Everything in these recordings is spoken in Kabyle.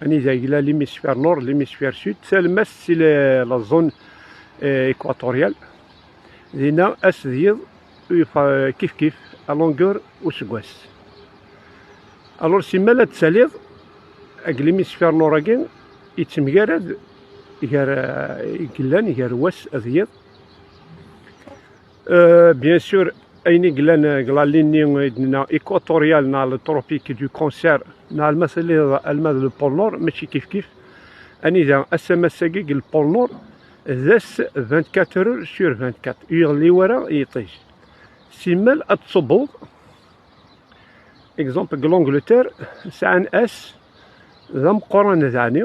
Anida yella l'hémisphère nord, l'hémisphère sud, talmast si la zone euh, équatoriale. Dina as d yiḍ kif kif à longueur useggas. Alors simmal ad taliḍ ag l'hémisphère nord agi yettemgarad gar euh, yellan gar wass d yiḍ Euh, bien sûr, ayen i yellan deg lalin-nni i d-nenna équatorial neɣ le tropique du cancer neɣ alma telliḍ alma d le pôle nord mačči kifkif anida asamas-agi deg le pôle nord d ass 24 heures sur 24 ur yeɣli wara yiṭij simmal ad tṣubbeḍ exemple deg l'Angleterre sɛan ass d ameqqran daɛni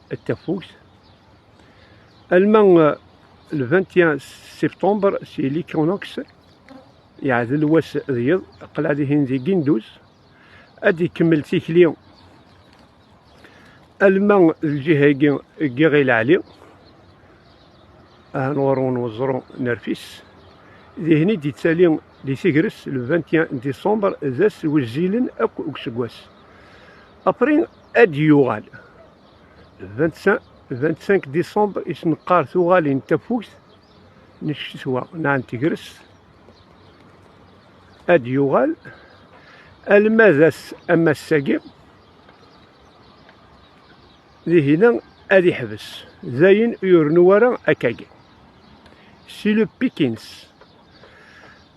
d tafukt alma le 21 septembre si l'Equinox yeɛdel wass d yiḍ qleɛ dihin di Ginduz ad ikemmel tikli alma lǧiha-agi ggiɣ i lɛali ahan ɣur-wen weẓru nerfis dihin i d-ittali di tegres le 21 décembre d ass wezzilen akk deg useggas après ad d-yuɣal. 25 décembre i s-neqqar tuɣalin tafukt n ccetwa neɣ n tegrest ad d-yuɣal alma d ass am ass-agi dihina ad iḥbes dayen ur yernu ara akkagi si le pikins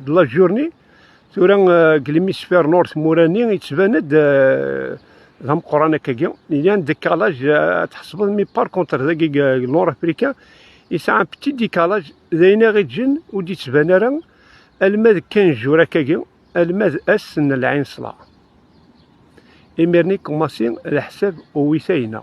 de la journée tura euh, deg l'hémisphère nord tmura-nni yettban-d euh, d ameqqran akkagi yan décalage euh, tḥesbeḍ mi par contre dagi nord africain yesɛa un petit décalage d ayen i ɣ-iǧǧen ur d-yettban ara alma d kan jours akkagi alma d ass n lɛinṣla imir-nni commencé leḥsab uwit-ayna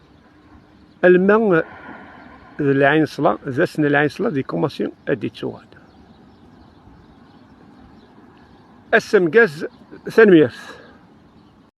Alma d lɛinṣla, d ass n lɛinṣla di kumassi ad d-ittuɣal. Ass amgaz, tanemmirt.